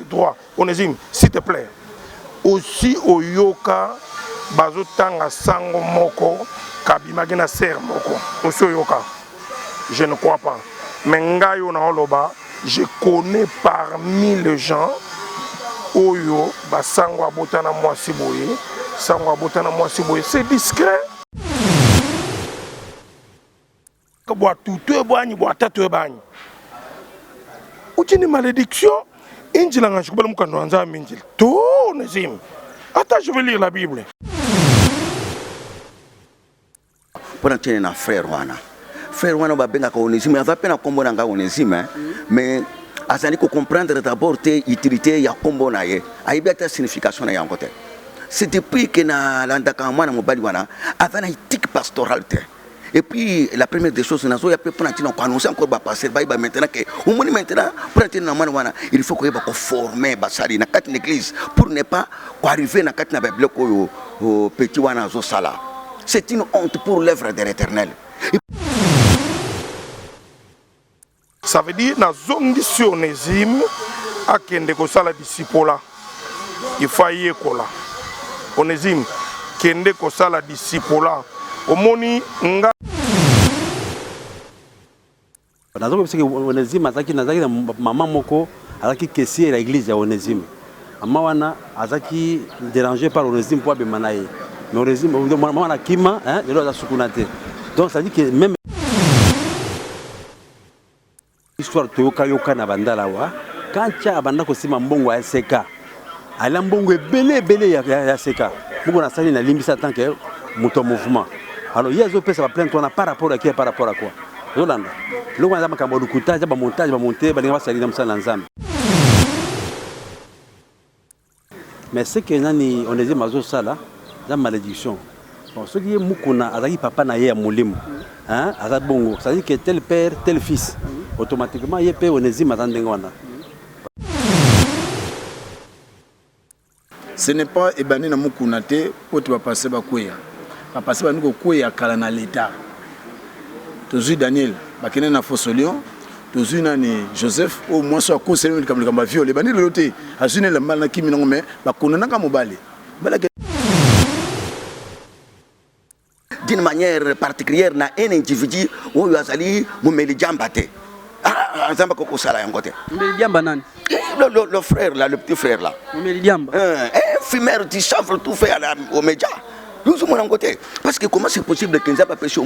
droit onezime s'il te plaît osi oyoka bazotanga sango moko kabimaki na sere moko osi oyoka je ne crois pas mais ngai oyo naoloba je connais parmi les gens oyo basango abota na mwasi boye sango abota na mwasi boye c'est discret bwa tutu ebwanyi bwa tatu ebanyi uchini malediction injila nga shikubala mukando wa nzambe injila tu nezim ata je vais lire la bible mpona tiene na frère wana frère wana babengaka onésime aza mpe na nkombo na ngai onésime hein? mm. mais azali kocomprendre d'abord te utilité ya nkombo na ye ayebi ata signification na yango te c'est depuis ke nalandaka mwana mobali wana aza na ethique pastorale te Et puis, la première des choses, nazo ya pe pona tina ko annoncer encore ba passer ba ba maintenant que au moins maintenant pona tina mwana wana, il faut ko yeba ko former ba sali na kati l'église pour ne pas ko arriver na kati na ba bloc oyo oh, petit wana azo sala. C'est une honte pour l'œuvre de l'Éternel. Ça veut dire na zongi sur Onésime akende kosala disipola. Il faut ayekola. Onésime kende kosala disipola. Omoni nga nazokobisa ke Onésime azalaki nazalaki na mama moko Azalaki caissier na eglise ya Onesime. Maman wana azalaki deranger par Onesime mpo abema na ye. Mais Onesime, maman wana akima, lelo aza sukuna te. Donc ça dit que même histoire toyoka yoka na bandala wa, quand Cha abanda kosima mbongo ya SK, Ala mbongo ebele ebele ya, ya, ya seka moko nasali na limbisa en tant que moto ya mouvement alors ye azopesa baplainte wana par rapport ya kia par rapport ya quoi ozolanda eloko wana eza makambo ya lokuta eza bamontage bamonte balinga basali na mosala na nzambe mais ce que nani onezime azosala eza malédiction Bon soki ye mukuna azalaki papa na ye ya molimo hein aza bongo ça dit que tel père tel fils automatiquement ye pe Onezime aza ndenge wana. Ce n'est pas ebandi na mukuna te pote ba passe ba kweya ba passe bandi ko kweya kala na l'etat tozui Daniel bakende na fosolion tozui nani Joseph oyo mwasi oyo akoseli likambo likambo ya viol ebandi lelo te azui na elamba na kimi nango mais bakonanaka mobali d'une manière particulière na un individu oyo azali momeli jamba te ah, nzambe akoki kosala yango te momeli jamba nani le frère là le petit frère là momeli jamba eh, eh, fumeur du chanvre tout fait à la omeja yozomona yango te parce que comment c'est possible que nzambe apesi yo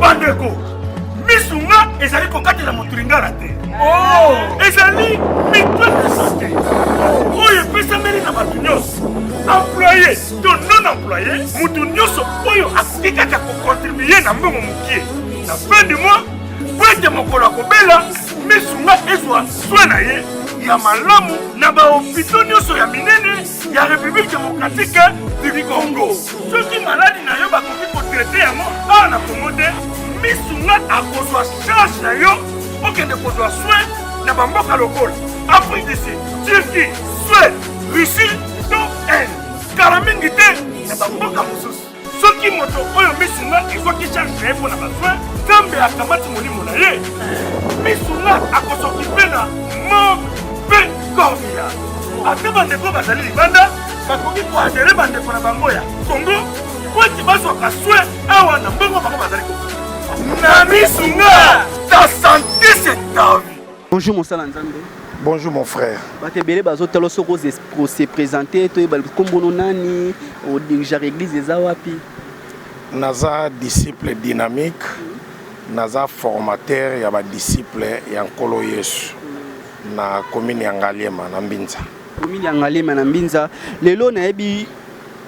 bandeko misu nga ezali kokatela moto lingala te oh! ezali mitonisite oyo epesameli na bato nyonso employe to non employe moto nyonso oyo akoki kaka kokontribue na mbongo mokie na fin du mois mpo ete mokolo akobela misu nga ezwa swe na ye ya malamu na bahopito nyonso ya minene ya République démocratique du Congo. Soki maladi na yo bakoki kotraite yango awa na Congo te, misu nga akozwa charge na yo okende kozwa soin na bamboka lokola Afrique du Sud, Turquie, Suède, Russie to Inde. Kala mingi te na bamboka mosusu. soki moto oyo misu nga ezwaki charge na ye mpo na bazwi nzambe akamati molimo na ye misu nga akosoki mpe na mort mpe corvia ata bandeko bazali libanda bakoki koadere bandeko na bango ya kongo mpo ete bazwaka swe awa na mbongo bango bazali na misu nga ta sante se tavi Bonjour mosala nzambe. Bonjour mon frère. Bato ebele bazotala soko se présenter toyeba nkombo no nani odirigere église eza wapi? Naza disciple dynamique, naza formateur ya ba disciples ya Nkolo Yesu na commune ya Ngaliema na Mbinza. Commune ya Ngaliema na Mbinza. Lelo nayebi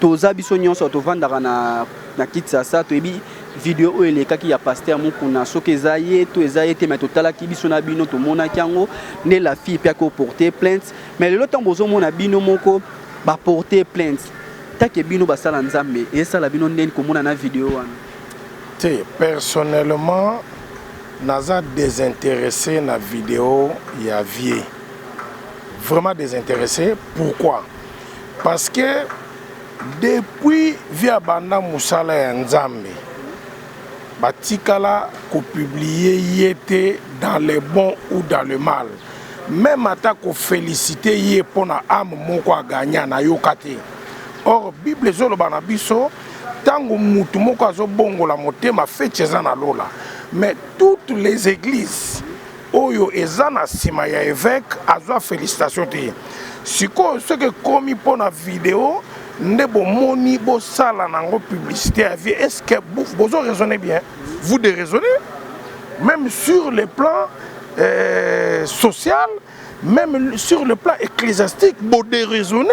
Toza biso nionso tovandaka na na kitsasa toyebi video oyo elekaki ya pasteur mukuna soki eza ye to eza ye te mais totalaki biso na bino tomonaki yango nde la fille pe ako porter plainte mais lelo ntango bozomona bino moko ba porter plainte take bino basala nzambe esala bino ndeni komona na video wana te personnellement naza désintéressé na video ya vie vraiment désintéressé pourquoi Parce que depuis via banda musala ya Nzambe batikala ko publier ye te dans le bon ou dans le mal. Même ata ko feliciter ye pona âme moko a gagna na yoka te. Or Bible ezoloba na biso tango mutu moko azobongola motema feti eza na lola mais toutes les eglises oyo eza na sima ya evêque azwa felicitation te sikoyo soki ekomi mpo na video nde bomoni bosala nango publicité ya vie est ce que bozo raisonne bien vous de raisonne même sur le plan euh, social même sur le plan ecclésiastique bo de raisonne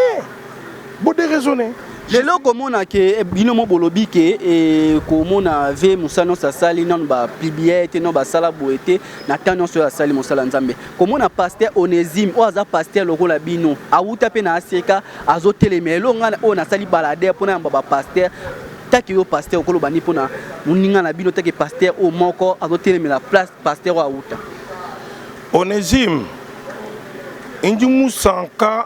Bo déraisonner. lelo okomona ke eh, bino mo bolobi ke eh, komona ve mosala nyonso asali nano bapublie te no basala boye te na temps nyonso oyo asali mosala nzambe komona paster onésime oyo aza paster lokola bino awuta mpe na aseka azotelema elo ngai oyo nasali balader mpo nayamba bapaster take yo paster okoloba nini mpo na moninga na bino take paster oyo moko azotelemela place paster oyo awuta onésime inji musanka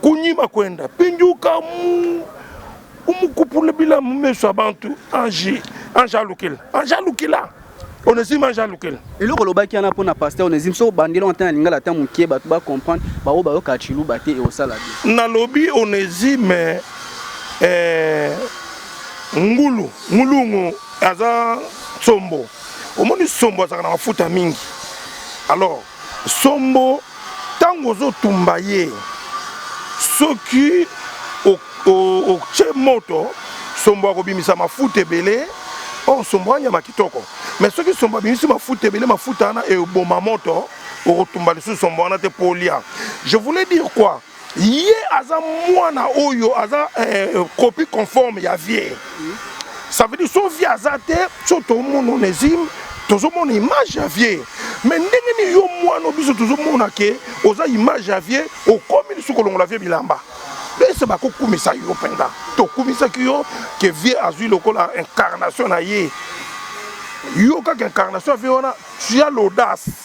kunyima kwenda pinjuka mu umukupula bila mu meso ya bantu ange ange alukila ange alukila onesime ange alukila eloko olobaki wana mpo na paster onesime soki obandi eloko ata na lingala ata moke bato bacomprendre baoyo bayokaka ciluba te eosala te nalobi onesime eh, ngulu ngulungu aza sombo omoni sombo azalaka na mafuta mingi alors Sombo tangu ozo tumba ye soki otie moto sombo akobimisa mafuta ebele or sombo anyama kitoko mais soki sombo abimisi mafuta ebele mafuta wana eboma moto okotumba lisusu sombo wana te po olia je voulais dire quoi ye aza mwana oyo aza eh, copie conforme ya vie ça veut dire so vie aza te so tomona onésime tozomona image ya vie me ndenge nini yo mwana biso tozomona ke oza image ya vie okomi lisusu kolongola vie bilamba ese bakokumisa yo mpenza tokumisaki yo ke vie azwi lokola incarnation na ye yo kaka incarnation ya vie wana tu as l'audace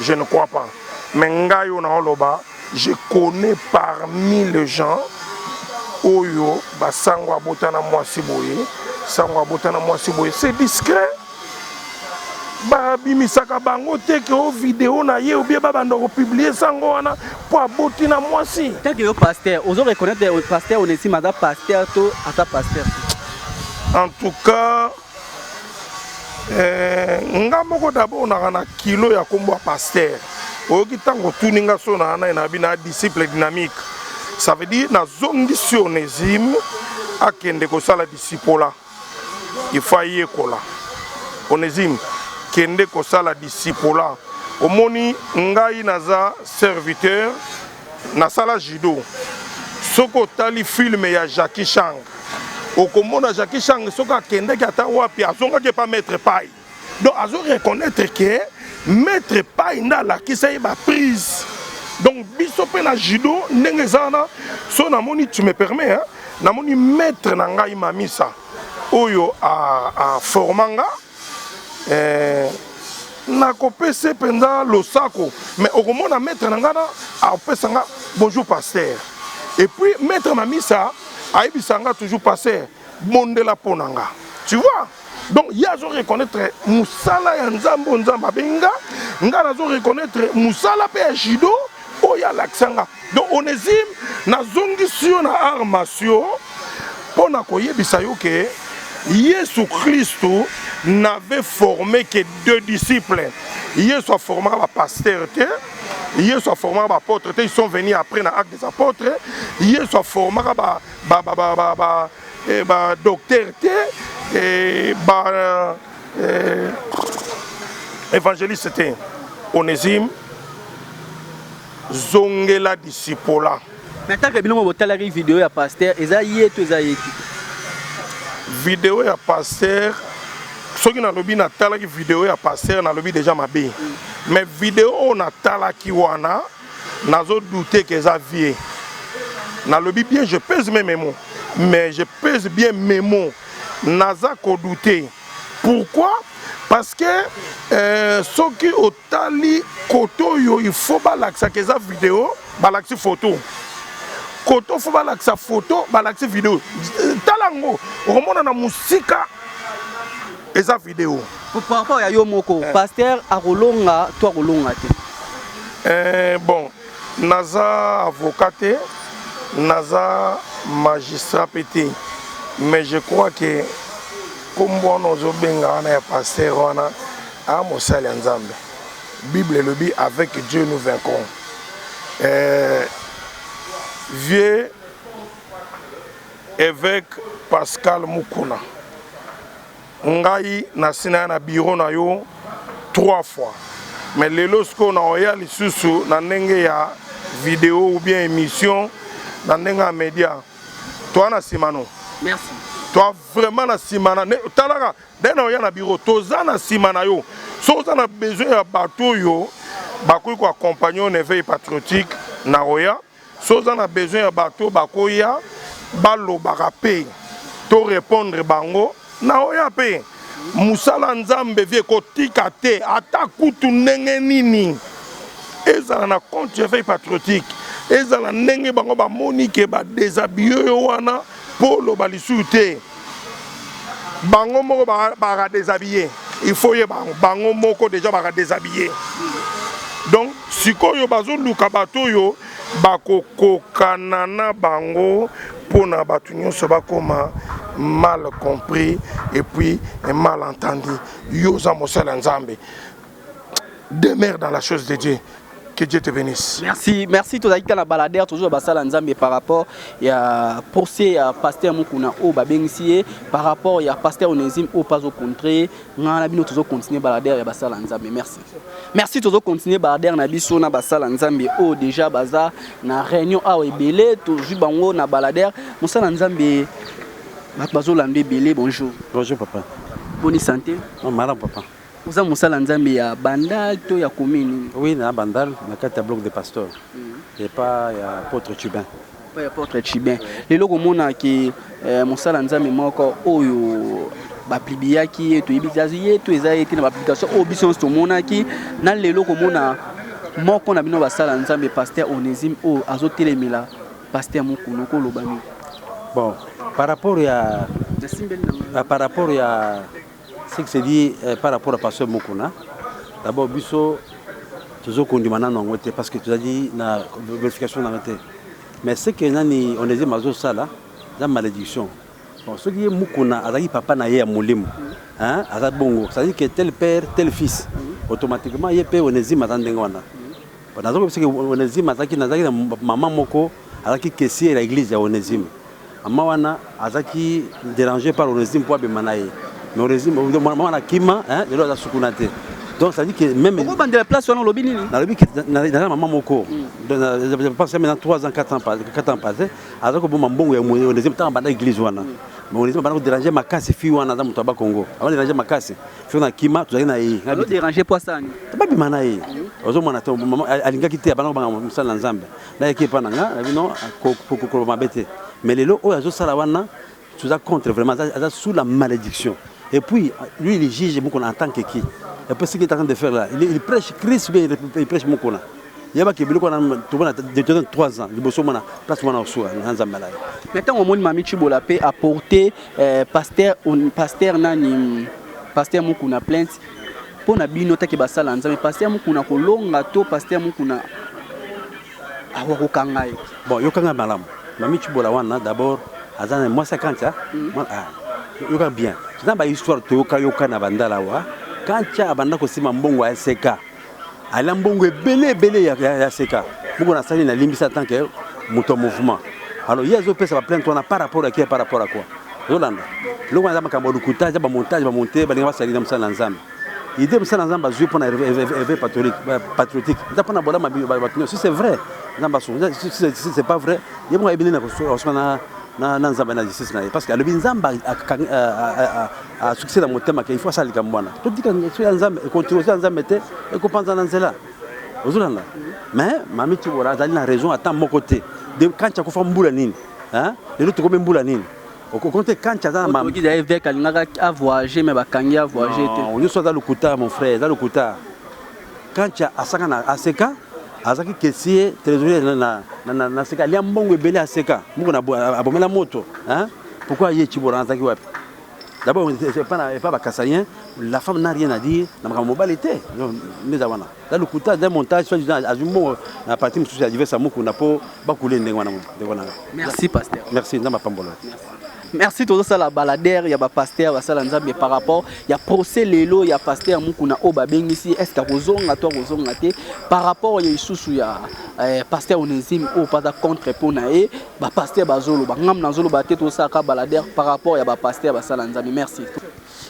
Je ne crois pas. Mais ngai oyo naoloba, je connais parmi les gens oyo basango abota na mwasi boye, sango abota na mwasi boye, c'est discret. babimisaka bango te ke o video na ye obie babanda kopublie sango wana mpo aboti na mwasi teke yo paster ozo reconnaitre paster onesima aza paster to aza paster en tout cas Eh, nga moko d'abord naka na kilo ya kombo ya pasteur oyoki ntango otuni nga so na nai na bina disciple dynamique ça veut dire nazongisi onésime akende kosala disipola ifo ayekola onésime kende kosala disipola omoni ngai naza serviteur nasala judo soki otali filme ya jacki chang okomona jacki chang soki akendaki ata wapi azongaki epa maître pai donc azo reconnaître ke maître pai nde alakisa ye baprise donc biso mpe na judo ndenge eza wana so namoni tu me permets hein? namoni maître na ngai mamisa oyo aforma nga a eh, nakopese mpenza losako mais okomona maître na ngai na apesa nga bonjour pasteur et puis maître na misa ayebisa nga toujours pasteur bondela mpo na nga tu vois donc ye azo reconnaître mosala ya nzambe oyo nzambe abengi nga ngai nazo reconnaître mosala mpe ya judo oyo alakisa nga donc onésime nazongisi yo na art masio mpo na koyebisa yo ke yesu kristu n'avait formé que deux disciples yesu aformaka bapastere te yesu aformaka baapôtre te ils sont venus après na acte des apôtres yesu aformaka badocteur ba, ba, ba, ba, ba, eh, te ba, Euh, évangéliste te onésime zongela disipola na ntango ya bino botalaki video ya paster eza ye to eza ye te video ya paster soki nalobi natalaki video ya paster nalobi deja mabe mais video oyo natalaki wana nazo douter que eza vie nalobi bien je pèse mes memo mais je pèse bien memo naza kodoute pourquoi parce que euh, soki otali kote oyo il faut balakisaka eza video balakisi photo kote fo balakisa photo balakisi video tala yango okomona na mosika eza video par rapport ya yo moko eh. pasteur akolonga to akolonga te eh, bon naza avocat te naza magistrat mpe te mais je crois que nkombo wana ozobenga wana ya paster wana a mosali ya nzambe bible elobi avec dieu nous vaincrons eh, vieux Eveque Pascal Mukuna ngai nasi naya na bureau na yo trois fois mais lelo sikoyo na oya lisusu na ndenge ya video ou bien emission na ndenge ya media toa na nsima no merci toa vraiment na nsima na talaka nde na oya na bureau toza na nsima na yo soki oza na besoin ya bato oyo bakoki koaccompagne yo na eveil patriotique na oya Soki oza na besoin ya bato oyo bakoya balobaka mpe to repondre bango, naoya mpe. Mosala ya Nzambe vie ekotika te ata kutu ndenge nini. Ezala na compte ya veille patriotique, ezala ndenge bango bamoni que ba deshabiller yo wana. Po loba lisusu te bango moko ba ra deshabiller il faut ye bango bango moko deja ba ra deshabiller donc sikoyo bazoluka bato oyo bakokokana na bango mpo na bato nyonso bakoma mal compris et puis mal entendu yo oza mosali ya nzambe demeure dans la chose de Dieu. Que Dieu te bénisse. Merci, merci. Tozali kaka na baladere toujours basala Nzambe par rapport ya procès ya pasteur Mukuna oyo babengisi ye par rapport ya pasteur Onésime oyo mpe azokontre ngai na bino tozo continuer baladere ya basala Nzambe. Merci. Merci tozo continuer baladere na biso na basala Nzambe oyo déjà baza na réunion awa ebele tozwi bango na baladere mosala Nzambe bato bazolanda ebele bonjour. Bonjour papa. Boni santé? Non, malamu papa. Oza mosala nzambe ya bandal to ya commune? Oui na bandal na kati ya bloc de pasteur mm. epa ya potre cubain epa ya potre cubain lelo komona ke eh, mosala nzambe moko oyo bapibliaki ye toyebi ye to eza ye te na bapublication oyo biso nyonso tomonaki na lelo komona moko na bino basala nzambe paster onésime oyo azotelemela paster mokulu koloba nini bon par rapport ya ah, par rapport ya Ce qui se dit eh, par rapport à Pasteur Mukuna, d'abord biso tozo kondima nanu yango te parce que tozali na vérification na te. Mais ce que nani on est mazo sala la malédiction. Bon, ce qui est Mukuna azali papa na ye ya molimo. Hein, azali bongo, c'est-à-dire que tel père, tel fils. Automatiquement ye pe Onésime azali ndenge wana. Naza koyebisa ke Onezime azalaki nazalaki na mama moko azalaki caissier na eglise ya Onezime. Mama wana azalaki deranger par Onezime mpo abema na ye. Mais Onezime mama wana akima, hein, lelo aza sukuna te. Donc ça dit que même Pourquoi bande la place wana olobi nini? Nalobi que naza mama moko. Donc je pense maintenant 3 ans 4 ans passé 4 ans passé azalaki koboma mbongo ya Onezime ntango abanda eglise wana. Mais Onezime abanda ko deranger makasi fille wana aza moto ya Bas-Congo. Abanda deranger makasi. soki na kima tozalaki na ye Alo déranger po asala nini babima na ye ozomona te mama a- alingaki te abanda kobanga mosala na nzambe nayaki epa na nga nabi no ko- ko- kokoloba mabe te mais lelo oyo azosala wana toza contre vraiment aza, aza sous la malédiction et puis lui il juge mokona en tant que qui et puis ce qu'il est en train de faire là il, il prêche christ ou bien il, il prêche mokona yebaki biloko wana tomona de 3 ans liboso omona place mwana osuka na nzambe na ye mais ntango omoni mami chibola mpe aporte Eh, pasteur, un, pasteur nani pasteur mukuna plainte mpo na bino take basala nzambe pasteur mukuna kolonga to pasteur mukuna awa kokanga ye bon yokanga malamu mami cibola wana d'abord aza na mwasi akantia mm. ah, yoka bien toza bahistoire toyokayoka na bandala wa kantia abanda kosima mbongo ya seka Ala mbongo ebele ebele ya, ya, ya seka moko nasali na limbisa en tant que moto ya mouvement alors ye azopesa baplainte wana par rapport ya kia par rapport ya quoi ozolanda eloko wana eza makambo ya lokuta eza bamontage bamonte balinga basali na mosala na nzambe ide mosala na nzambe azwi mpo na eve patriotique eza mpo na bolama bato nyonso si c'est vrai nzambe asunga si c'est pas vrai ye moko ayebi nini akosuka na nzambe na justice na ye parce que alobi nzambe asukisi na motema ke il faut asala likambo wana totika so ya nzambe ekontinue so ya nzambe te ekopanza na nzela ozolanda mais mami tibora azali na raison ata moko te de kanti akufa mbula nini lelo tokomi mbula nini okokonte kanti aza na eveke alingaka avoyage me bakangi avoyage te nyonso aza lokuta mon frère eza lokuta kanti asaka na aseka azalaki kesie trésorier na seka alia mbongo ebele aseka mbongo abomela moto pourkui aye tibora azalaki wapi D'abord, pas ba Kasaïens, la femme n'a rien à dire. Na makambo mobali te. Neza wana. La lokuta d'un montage soit disant azumo na partie mususu ya diversa mukuna po ba couler ndenge wana ndenge wana. Merci pasteur. Merci nzamba pambola. Merci tozo sala balader ya ba pasteur basala nzambe par rapport ya procès lelo ya pasteur mukuna o babengisi est-ce que akozonga to akozonga te par rapport ya isusu ya eh, pasteur Onésime o pata contre po na ye Ba pasteur bazoloba ngam nazoloba te tosalaka balader par rapport ya ba pasteur basala nzambe merci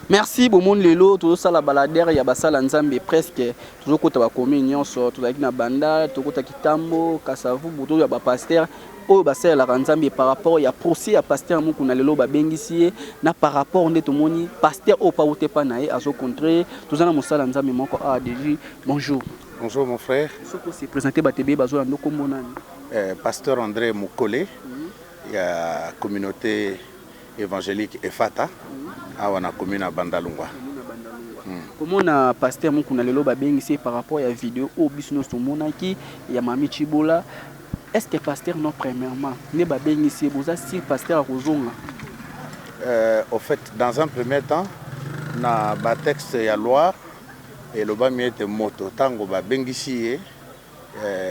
merci bomoni lelo tozosala balader ya basala nzambe presque tozokota bakomi nyonso tozalaki na banda tokota kitambo kasavubu tozoya ba pasteur oyo basalelaka nzambe par rapport ya procès ya pasteur mukuna lelo babengisi ye na par rapport nde tomoni pasteur oyo pa ute pa na ye azocontre toza na mosala nzambe moko awa deji bonjour bonjour mon frère soki ose présente batebe bazoya ndo kombo nani Eh, Pasteur Andre Mukole ya communauté évangélique Efata awa na commune ya Bandalungwa. komona pasteur mukuna lelo babengisi ye par rapport ya video oyo biso nyonso tomonaki ya mami chibola est ce que pasteur non premièrement nde babengisi ye boza sur pasteur akozonga Euh, au fait, dans un premier temps, na batexte ya loi elobami ete moto ntango babengisi ye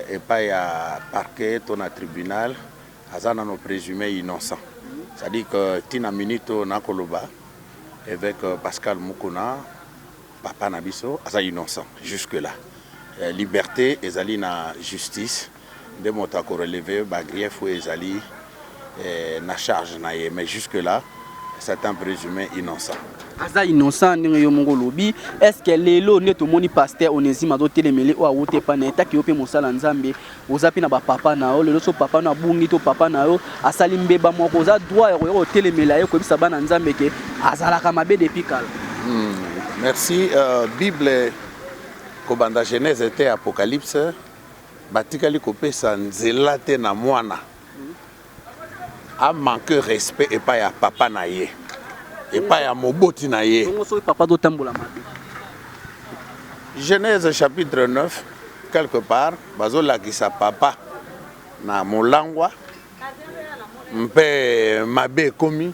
epai ya parquet to na tribunal aza nano presume innocent c'est à dire que ti na minute oyo na koloba eveque Pascal Mukuna papa na biso aza innocent jusque là liberte ezali na justice nde moto ako relever ba griefs oyo ezali na charge na ye mais jusque là c'est un presume innocent. aza innocent ndenge yo moko olobi estce lelo nde tomoni paster onesime azotelemele oyo awuta epai na ye taki yo mpe mosala nzambe oza mpe na bapapa na yo lelo so papa no abungi to papa na yo asali mbeba moko oza droit ya koya kotelemela ye koyebisa bana nzambe ke azalaka mabe depuis kala hmm, merci euh, bible kobanda genèse te apocalypse batikali kopesa nzela te na mwana a manque respect epa ya papa na ye epa ya moboti na ye genèse chapitre 9 quelque part bazolakisa papa na molangwa mpe mabe ekomi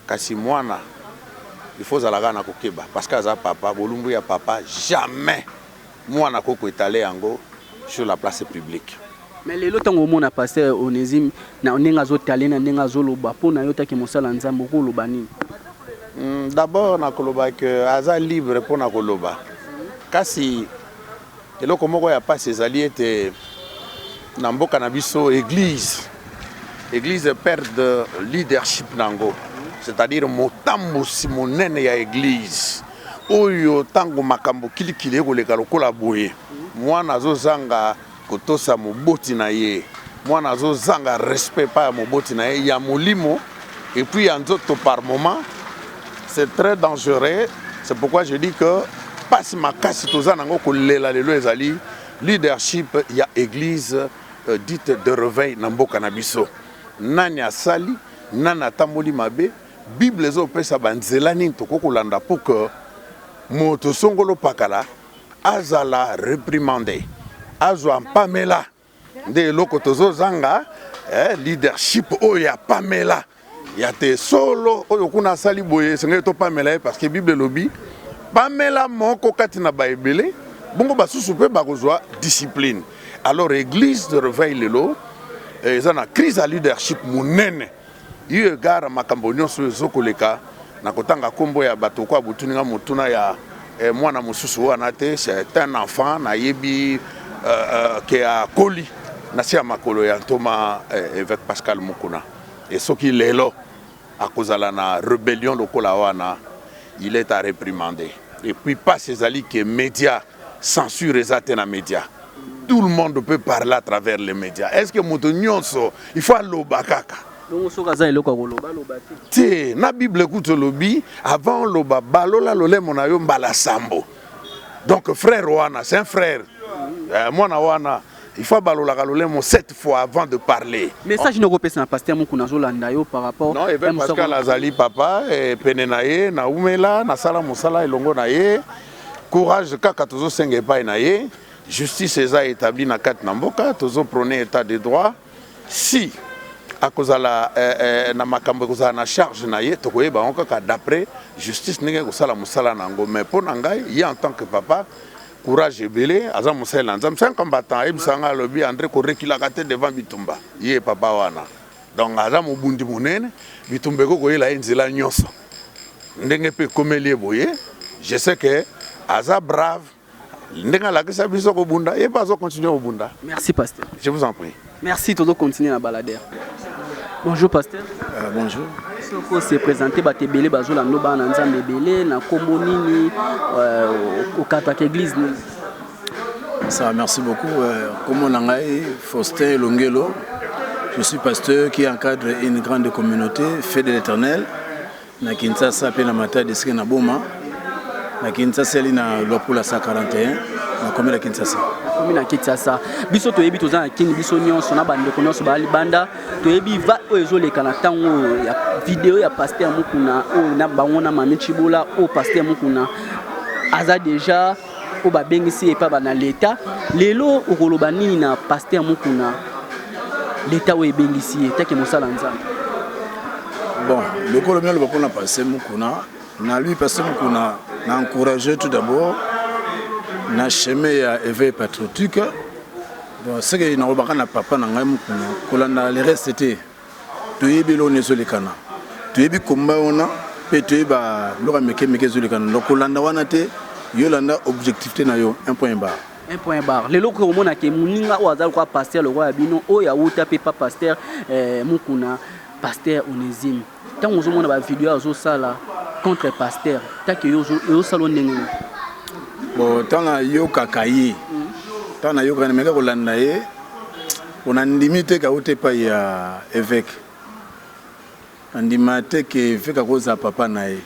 Kasi mwana il faut ozala kaka na kokeba parce que aza papa bolumbu ya papa jamais mwana akoki ko etaler yango sur la place publique. Mais lelo tango omona pasteur Onesime na ndenge azo taler na ndenge azo loba pona yo taki mosala Nzambe oko loba nini? D'abord na koloba que aza libre pona koloba kasi Eloko moko ya pasi ezali ete na mboka na biso eglise eglise perde leadership na yango c'est-à-dire motambusi monene ya eglise oyo ntango makambo kilikili ekoleka lokola boye mwana azozanga kotosa moboti na ye mwana azozanga respect epai ya moboti na ye ya molimo Et puis ya nzoto par moment c'est très dangereux c'est pourquoi je dis que pasi makasi toza nango kolela lelo ezali leadership ya église euh, dite de reveil na mboka na biso nani asali nani atamboli mabe bible ezopesa banzela nini tokoki kolanda pour que moto songolo pakala azala reprimande azwa mpamela nde eloko tozo zanga eh, leadership oyo ya pamela ya te solo oyo kuna asali boye esengeli topamela ye parce que bible elobi pamela moko kati na baebele bongo basusu mpe bakozwa discipline alors église de reveil lelo eh, eza na crise ya leadership monene Eu égard a makambo nionso oyo ezo koleka, nakotanga kombo ya bato ko abotuni nga motuna ya eh, mwana mosusu wana te, c'est un enfant nayebi euh, euh, ke akoli na se ya makolo ya ntoma eh, evêque Pascal Mukuna. Et soki lelo akozala na rebellion lokola wana, il est à reprimander. Et puis pas ezali ke media Censure eza te na media. Tout le monde peut parler à travers les médias. Est-ce que moto nyonso il faut aloba kaka? Bongo soki aza eloko ya koloba aloba te. Te, na Bible kutu olobi avant oloba balola lolemo na yo mbala sambo. Donc frère wana, c'est un frère. Euh, mwana wana il faut abalolaka lolemo sept fois avant de parler message noko pesa na pasteur mokuna azolanda yo par rapport non evel pascal azali papa eh, pene na ye naumela nasala mosala elongo na ye Courage kaka tozo senga epai na ye justice eza etabli na kati na mboka tozo prone etat de droit si akozala eh, eh, na makambo ekozala na charge na ye tokoyeba yango kaka d'après justice ndenge ekosala mosala na yango mais mpo na ngai ye en tant que papa courage ebele aza mosali na nzambe un combattant ayebisa ngai alobi andre korekilaka te devant bitumba ye papa wana donc aza mobundi monene bitumba ekoki koyela ye nzela nyonso ndenge mpe ekomeli ye boye je sais que aza brave ndenge alakisa biso kobunda ye mpe azo continue kobunda merci pasteur je vous en prie merci tozo continue na balader bonjour pasteur euh, bonjour soko se présente bato ebele bazolanda bana na nzambe ebele na nkombo nini euh, okataka église nini Ça, merci beaucoup. Euh, comment on a Faustin Longelo, je suis pasteur qui encadre une grande communauté, fait de l'éternel, na Kinshasa, puis na Mata, de na Boma, na Kinshasa, elle est na Lopula 41, na commune de Kinshasa. Commune de Kinshasa. Biso to yebi tozana kin biso nyonso na bande ko nyonso ba libanda to yebi va o ezo leka na tango ya vidéo ya pasteur Mukuna o na bango na Mami Chibola o pasteur Mukuna aza déjà oyo babengisi ye epai na leta lelo okoloba nini na paster mokuna leta oyo ebengisi ye take mosala nzambe bon lokolo mialoba mpona paster mokuna na lui paster mokuna na encourage tout d'abord na chemin ya éveil patriotique bon seke nakobaka na papa na ngai mokuna kolanda le reste te Toyebi eloko nini ezolekana, toyebi combat wana pe toyebi ba biloko ya mike mike ezolekana donc kolanda wana te, yo landa objectivite na yo un point barre. Un point barre. Lelo okoki komona ke muninga oyo aza lokola pasteur lokola bino oyo awuta pe pa pasteur eh, Mukuna, pasteur Onesime. Tango ozomona ba video azosala contre pasteur, take yo ezosala yo ndenge nini? Bon, tango nayokaka ye, tango nayokaka ye mais kolanda ye Pona ndimi te ke auta epai ya eveque. Na ndima te ke eveque akoki kozala papa na ye.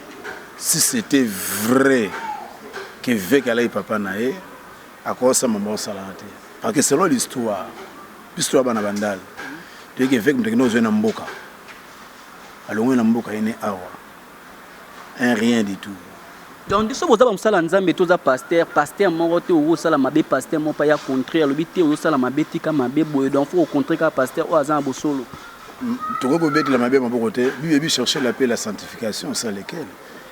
Si c'etait vrai ke eveque alaki papa na ye, akoki kosala maloba oyo asalaka te. Parce que selon l'histoire, biso toza bana bandal, toyebi ke eveque mutu akendaki kozua ye na mboka. Alongwe na mboka ene awa. un rien du tout. Donc biso boza ba musala nzambe toza pasteur pasteur moko te oyo osala mabe pasteur moko pa ya contre alobi te oyo osala mabe tika mabe boye donc faut contre ka pasteur oyo aza na bosolo tokoki kobetela mabe maboko te bible bi chercher la paix la sanctification sans lequel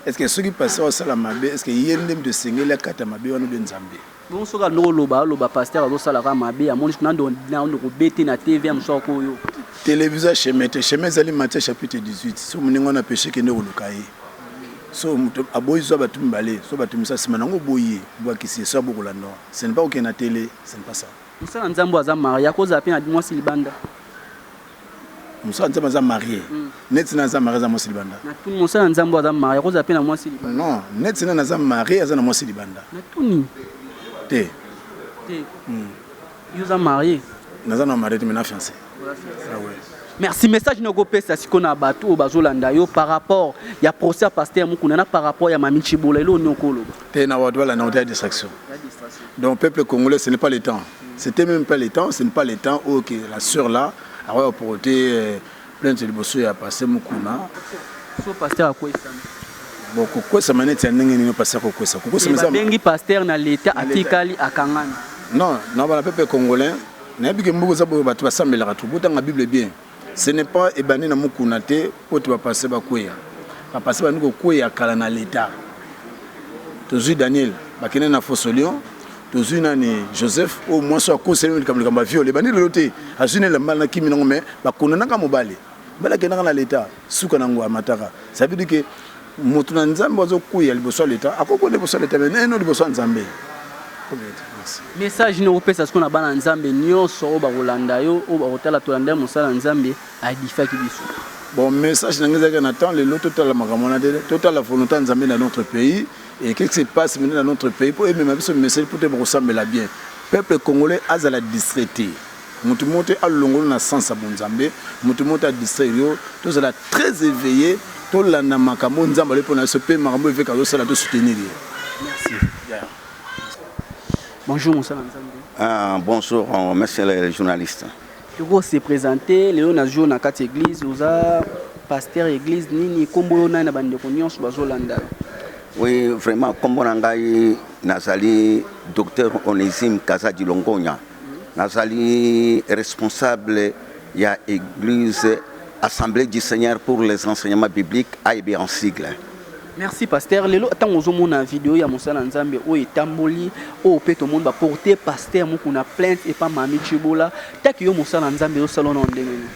est ce que soki pasteur asala mabe est ce que ye nde moto esengeli akata mabe wana obe nzambe Bongo soki alobi oloba aloba pasteur azosala kaka mabe amoni kuna ndo na ndo kobete na TV ya mosusu ako yo. Televisa chemin te chemin ezali Matthieu chapitre 18 so moninga wana peche kende koluka ye so moto aboyi zwa bato mibale so bato misa nsima nango oboyi ye bwakisi ye so aboko landa wana ce n'est pas kokende na tele ce n'est pas ça. Mosala nzambe aza maria akozala pe na mwasi libanda. Mosala nzambe aza marie neti na aza marie aza mwasi libanda natuni mosala nzambe aza marie akozala mpe na mwasi libanda non neti na aza marie aza na mwasi libanda natuni te te hmm. yo oza marie naza na marie te me na fiance ah merci message na okopesa siko na bato oyo bazolanda yo par rapport ya procès ya paster mokuna na par rapport ya mami cibola elo oni okoloba te na bato balanda ota ya distraction donc peuple congolais ce n'est pas le temps C'etait meme pas le temps, ce n'est pas le temps oyo que la sœur là akoya ko porter euh, plainte liboso ya pasteur Mukuna. So pasteur akwesana. Bon kokwesama neti ya ndenge nini pasteur kokwesa? Kokwesama eza Babengi pasteur na leta atikali akangami. Non, na bana pepe congolais, nayebi ke mboka eza boye bato basambelaka tu botanga Bible bien. Ce n'est pas ebandi na Mukuna te mpo ete ba Pasteurs bakweya. Ba Pasteurs babandi kokweya kala na l'Etat. Tozui Daniel, bakende na Fosolion, tozui nani Joseph oyo mwasi oyo akosi ye likambo likambo ya viol. Ebandi lelo te, azui na elamba na kimi na yango mais ba condamnaka mobali. Mobali akendaka na l'Etat. suka na ngo amataka ça veut dire que moto na nzambe azo kuya liboso ya leta akoki kuya liboso ya leta mais naino liboso ya nzambe message nini okopesa sikoyo na bana nzambe nyonso oyo bakolanda yo oyo bakotala tolanda mosala ya nzambe adifaki biso bon message na ngai ezalaki na temps lelo totala makambo wana te totala volonté ya nzambe na notre pays et qu'est-ce qui se passe maintenant na notre pays mpo emema biso mimeseli mpo te bakosambela bien peuple congolais azala distraite Mutu moko te alongola na sens ya bonzambe, mutu moko te a distraire yo, tozala très eveille, tolanda makambo oyo Nzambe alobi pona biso pe makambo oyo eveke azosala to soutenir ye. Merci. Bonjour mosala nzambe. Ah, bonjour euh, monsieur le journaliste. Toko se présenter lelo na jour na kati église oza pasteur église nini kombo yo nani na bandeko nyonso bazolanda yo. Oui, vraiment kombo na ngai nazali docteur Onésime Kazadi Longonya. Nazali responsable ya eglise Assemblee du Seigneur pour les enseignements bibliques, AEB en sigle. Merci pasteur. Lelo ntango ozomona video ya mosala nzambe oyo etamboli oyo mpe tomoni baporte pasteur mokuna plainte epa mami chibola taki yo mosala nzambe ezosala na ndenge nini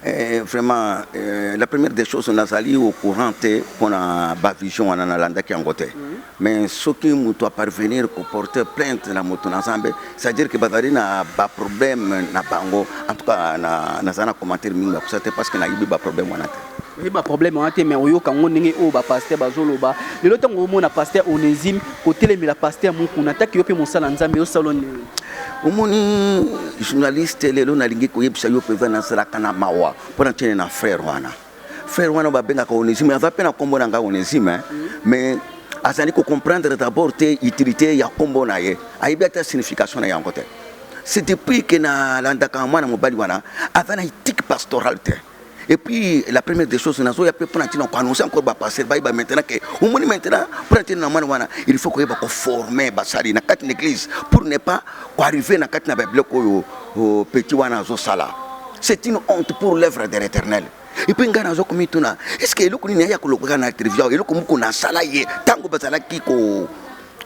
Eh, vraiment eh, la première des choses nazali au courant te mpo na bavision wana nalandaki yango te mm. mais soki moto aparvenir koporter plainte na moto na nzambe c'est-à-dire que bazali na baproblème na bango en tout cas naza na commentaire mingi ya kosa te parce que nayebi baproblème wana te oyebi baproblème wana te mais oyoka yango ndenge oyo bapaster bazoloba lelo ntango omona paster onésime kotelemela paster mokuna ataki yo mpe mosala nzambe osala nini omoni journaliste lelo nalingi koyebisa yo mpenza nazalaka na mawa mpo na tiene na frère wana frère wana babengaka onésime aza mpe na nkombo na ngai onésime eh. mais azali kocomprendre d'abord te utilité ya nkombo na ye ayebi ata signification na yango te c'est depuis que nalandaka mwana mobali wana aza na ethique pastorale te Et puis, la première des choses, nazo ya pe pona tina ko annoncer encore ba passer ba ba maintenant que au moins maintenant pona tina mwana wana il faut ko yeba ko former ba sali na kati l'église pour ne pas ko arriver na kati na ba bloc oyo oh, petit wana azo sala. C'est une honte pour l'œuvre de l'Éternel. Et puis ngana zo komituna, est-ce que eloko nini ya ko lokoka na trivia, eloko moko na sala ye tango bazalaki ko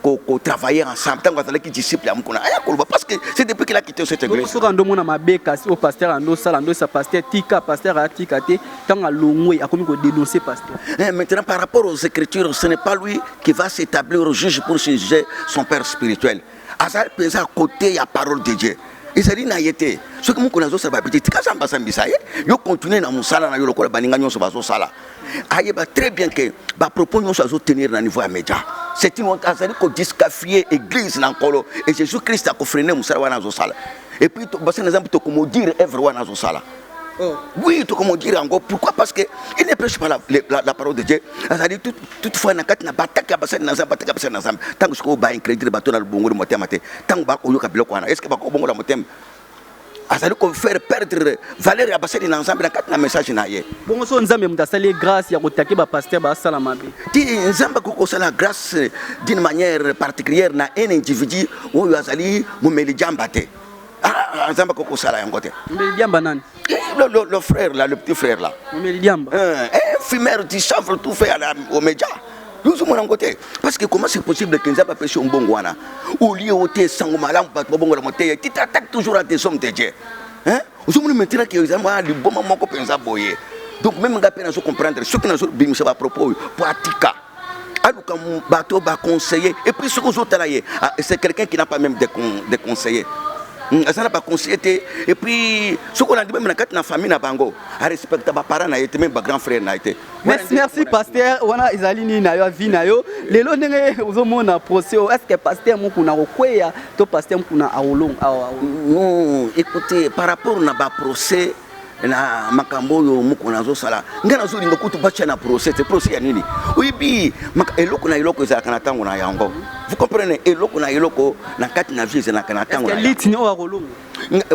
ko, ko travailler ensemble tango azalaki disciple ya mukuna aya koloba parce que c'est depuis qu'il a quitté cette église soka ndo mona mabe kasi au pasteur ando sala ndo sa pasteur tika pasteur atika te tango alongwe akomi ko dénoncer pasteur eh, maintenant par rapport aux écritures ce n'est pas lui qui va s'établir au juge pour juger son père spirituel azali mpenza à côté ya parole de Dieu ezali na ye te soki mokolo azosala babiti tika zamba asambisa ye yo continue na mosala na yo lokola baninga nyonso bazosala ayeba très bien que ba propos nyonso azo tenir na niveau ya media c'est une honte azali ko discafie église na nkolo et jésus christ akofrene mosala wana azosala et puis basana zambe tokomodire evre wana azosala Oh. Oui, tout comme on dirait encore. Pourquoi Parce qu'il ne prêche pas la, la, la, parole de Dieu. C'est-à-dire, tout, toutefois, na kati na batak ya basali na zambe, batak ya basali na zambe. Tango sikoyo ba incrédule bato na lubongo le motema te. Tango ba koyoka biloko wana. Est-ce que ba kobongo la motema azali ko faire perdre valeur ya basali na nzambe na kati na message na ye bongo so nzambe moto asali ye grâce ya kotake bapaster basala mabe ti nzambe akoki kosala grâce d'une manière particulière na un individu oyo azali momeli jamba te ah, ah, nzambe akoki kosala yango te momeli jamba nani Le, le, le, frère là, le petit frère là. Omelidiamba. Euh, eh, fumeur, tu chanfres tout fait à la, au média. yozomona yango te parce que comment c'est possible que nzambe apesi yo mbongo wana olie o te sango malamu bato babongola moteya ti t'attaque toujours à tes hommes de dieu hein ozomona maintenant que eza mwana liboma moko mpenza boye donc meme ngai mpe nazo comprendre soki nazo bimisa bapropos oyo po atika aluka bato ba conseiller et puis soki ozotala ye ah, c'est quelqu'un qui n'a pas même de, con, de conseiller hmm, aza na baconseiller te et puis soki olandi meme na kati na famille na bango arespecta baparent na ye te meme bagrand frère na ye te merci, merci pasteur wana ezali nini na yo avi na yo lelo ndenge ozomona procès oyo est ce que pasteur mokuna akokweya to pasteur mokuna akolonga awa non écoutez par rapport na baprocès na makambo oyo mokona azosala ngai nazolinga kutu batya na procès te procès ya nini oyebi eloko na eloko ezalaka na ntango na yango vous comprenez eloko na eloko na kati na vie ezalaka na ntango litini oyo akolonga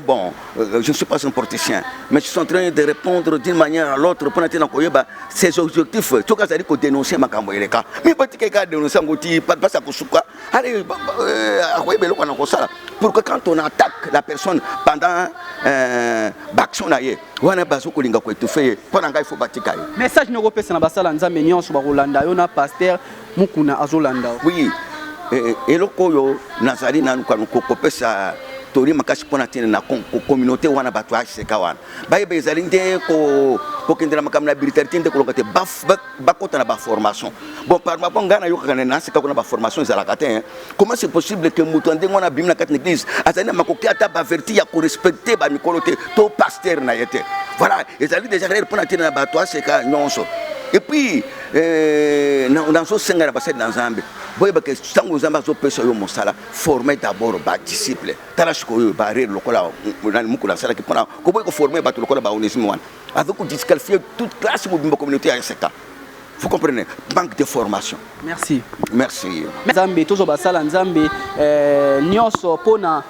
bon euh, je ne suis pas un politicien mais je suis en train de répondre d'une manière à l'autre mpo na te na koyeba ses objectifs soki azali kodénonce makambo eleka mi batika eka dénonce yango ti basa kosuka Allez, bah, bah, euh, à quoi est-ce qu'on a comme ça Pourquoi quand on attaque la personne pendant euh, l'action là, on a besoin qu'on l'inga quoi tout fait. Pendant qu'il faut bâtir caille. Message nous repèse na basala nzambe nyonso ba Rolanda yo na pasteur Mukuna azolanda. Oui. Eh, eh, eloko oyo nazali nanu kanu kokopesa toli makasi mpo na ntina na communauté wana bato ya aseka wana bayeba ezali nde kokendela makambo na brutalité nde koloka te bakota na baformation bon par rapport ngai nayokaka na nase kako na baformation ezalaka te hein. comment c'est possible que moto ya ndenge wana abimi na kati na église azali na makoki ata baverti ya korespecte bamikolo te to paster na ye te voilà ezali déjà rere mpo na ntina na bato aseka nyonso epuis euh, nazosenga na basali na nzambe boyebaka ntango nzambe azopesa yo mosala forme d'abord badisciple tala sikoyo barere lokola mokolo asalaki mpona koboyi koforme bato lokola baonesime wana avec ko disqualifier toute classe mobimba communauté ya SK vous comprenez manque de formation merci merci nzambe tozwa basala nzambe euh, nyonso mpo na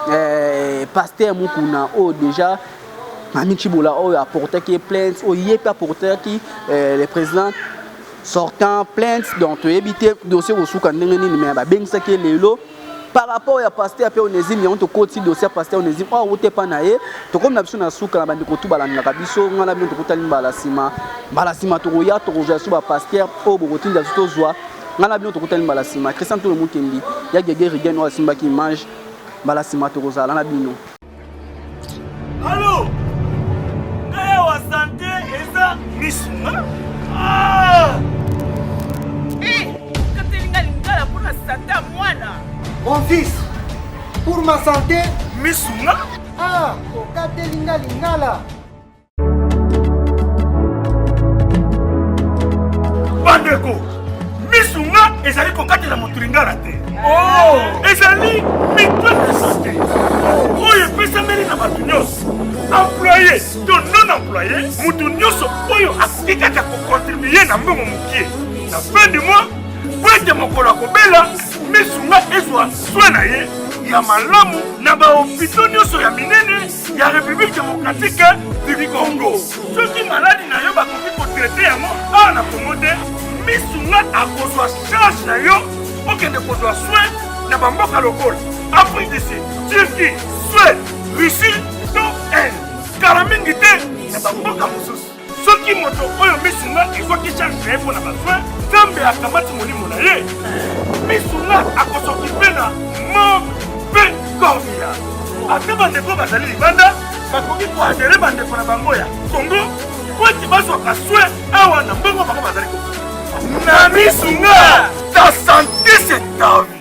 euh, paster mokuna oyo oh, déjà mami cibola oyo oh, apportaki ye plainte oyo oh, ye mpe apportaki euh, le président sortant plainte donc toyebi te dossier kosuka ndenge nini me babengisaki ye lelo par rapport ya pasteur pe onésime yango tokoti dossier ya pasteur onésime oyo awuta epa na ye tokomi na biso na suka na bandeko tu balandaka biso ngai na bino tokutani mbala nsima mbala nsima tokoya tokozwa biso bapasteur oyo bokotinda biso tozwa ngai na bino tokutani mbala nsima christian tolo mukendi ya gege rigen oyo asimbaki image mbala nsima tokozala na bino Allô Naya wa santé eza miss Ah Eh, katelinga lingala pour la sata mwana. Mon fils, pour ma santé, miss Ah, okatelinga lingala. bandeko misu nga ezali kokatela moto lingala te oh! ezali mipasite oyo epesameli na bato nyonso employe to non employe moto nyonso oyo akoki kaka kokontribue na mbongo mokie na fin du mois po ete mokolo akobela misu nga ezwa swe na ye ya malamu na bahopito nyonso ya minene ya République démocratique du Congo. Soki maladi na yo bakoki kotraite yango awa na Congo te, misu nga akozwa charge na yo okende kozwa soin na bamboka lokola Afrique du Sud, Turquie, Suède, Russie to Inde. Kala mingi te na bamboka mosusu. soki moto oyo misu nga ezwaki charge na ye mpo na baswe nzambe akamati molimo na ye misu nga akosoki mpe na mort mpe cornea ata bandeko bazali libanda bakoki koadere bandeko na bango ya kongo mpo ete bazwaka swe awa na mbongo bango bazali na misu nga ta sante se tavi